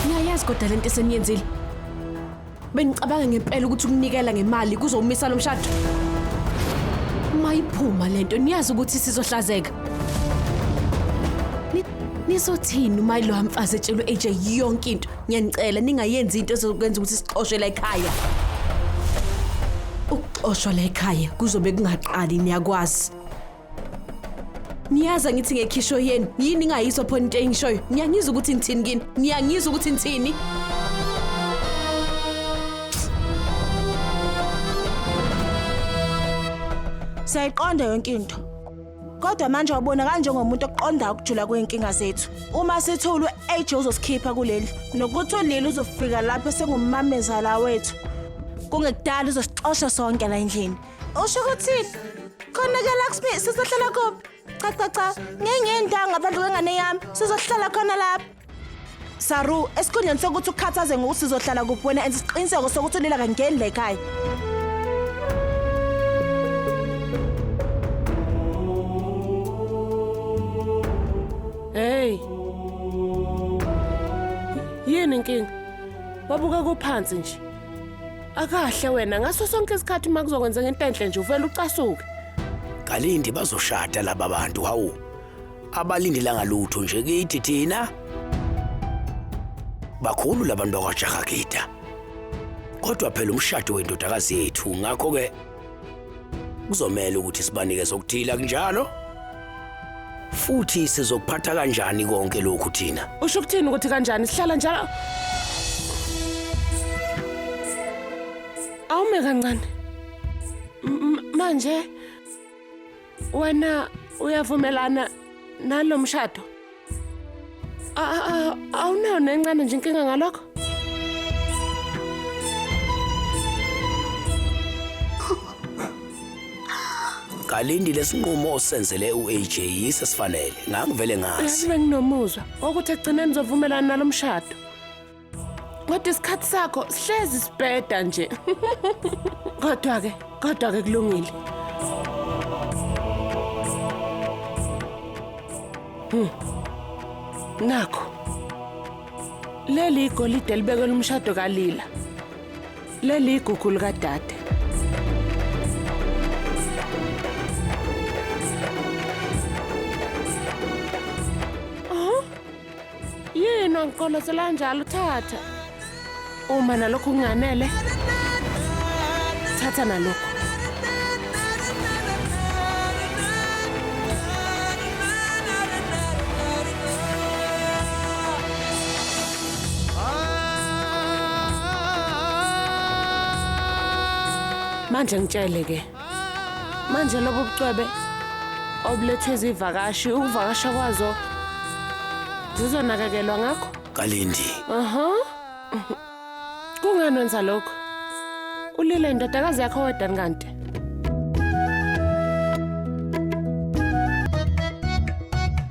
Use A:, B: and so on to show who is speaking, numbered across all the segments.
A: Niyayazi kodwa lento eseniyenzile. Benicabanga ngempela ukuthi ukunikela ngemali kuzowumisa lo mshado. Mayiphuma lento niyazi ukuthi sizohlazeka. Nizothini uma lo mfazi etshelwe AJ yonke into? Ngiyanicela ningayenzi into ezokwenza ukuthi sixoshwe la ekhaya. Ukuxoshwa la ekhaya kuzobe kungaqali niyakwazi. niyaza ngithi ngekhisho yenu yini ingayizwa phona into engishoyo niyangizwa ukuthi ngithini kini niyangizwa ukuthi ngithini
B: siyayiqonda yonke into kodwa manje wabona kanjengomuntu oqonda ukujula kwey'nkinga zethu uma sithi ulu-age uzosikhipha kuleli nokuthi uleli uzofika lapho sengumamezala wethu kungekudala uzosixosha sonke la endlini Usho ukuthini? Khona ke Lakshmi sizohlala kuphi? Cha cha cha, ngengenda ngaphandle kwengane yami. Sizohlala khona lapha. Saru, esikhundleni sokuthi ukhathaze ngokuthi sizohlala kuphi wena enza isiqiniseko sokuthi ulila kangeni la ekhaya.
C: Hey. Yini inkinga? Wabuka kuphansi nje. Akahle wena ngaso sonke isikhathi uma kuzokwenzeka into enhle nje uvele ucasuke. Kalindi
D: bazoshada laba bantu hawu. Abalindelanga lutho nje kithi thina. Bakhulu labantu bakwaJahagida. Kodwa phela umshado wendodakazi yethu ngakho ke Kuzomela ukuthi sibanikeze okuthile akunjalo? Futhi sizokuphatha kanjani konke lokhu thina? Usho ukuthini ukuthi kanjani
C: sihlala njalo? Awume kancane. M- m- Manje Wena uyavumelana nalo mshado? Awunayo nencane nje inkinga ngalokho?
D: Kalindi lesinqumo osenzele uAJ yise sifanele. Ngangivele ngazi. Nginomuzwa
C: okuthi ekugcineni uzovumelana nalomshado. kodwa isikhathi sakho sihlezi sibheda nje kodwa-ke kodwa-ke kulungile hmm. nakho leli igolide elibekelwe umshado kalila leli igugu likadade yini wangiqolosela njalo thatha uma nalokho kunganele thatha nalokho manje ngitshele ke Manje lobo bucwebe obulethe izivakashi ukuvakasha kwazo zizonakekelwa ngakho? Kalindi.
D: Aha.
C: Kungani wenza lokho? Ulile indodakazi yakho wedani kanti?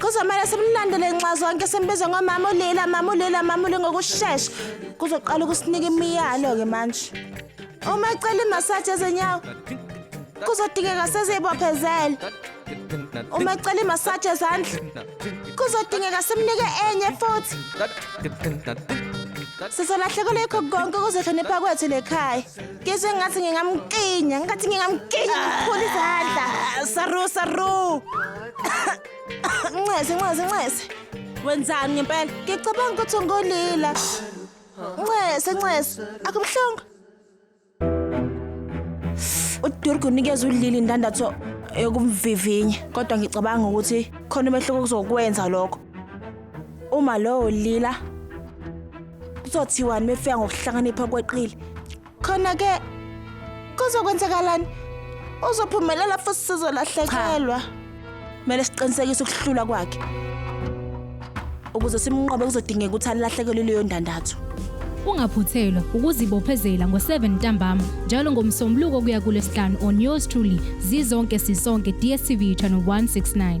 B: Kuzomele simlandele nxa zonke simbize ngomama ulila mama ulila mama uli ngokushesha. Kuzoqala ukusinika imiyalo ke manje. Uma ecela imassage ezinyawo kuzodingeka sizibophezele. Uma ecela imassage ezandla kuzodingeka simnike enye futhi. Sizolahlekelwa yikho konke ukuzihlonipha kwethu lekhaya. Ngizwe ngathi ngingamkinya, ngathi ngingamkinya ngikhulu izandla. Saru saru. Ncese, ncese, ncese. Wenzani ngempela? Ngicabanga ukuthi ungolila. Ncese, ncese. Akubuhlungu. UDurgu unikeza uLili indandatho yokumvivinya, kodwa ngicabanga ukuthi khona umehluko okuzokwenza lokho. Uma lowo lila kuzothiwani mefika ngokuhlakanipha kweqile? khona ke kuzokwenzakalani uzophumelela futhi sizolahlekelwa kumele siqinisekise ukuhlula kwakhe ukuze simnqobe kuzodingeka ukuthi alahlekelwe leyo ndandatho ungaphuthelwa
E: ukuzibophezela ngo-7 ntambama njalo ngomsombuluko kuya kulesihlanu on yours truly zizonke sisonke dstv channel 169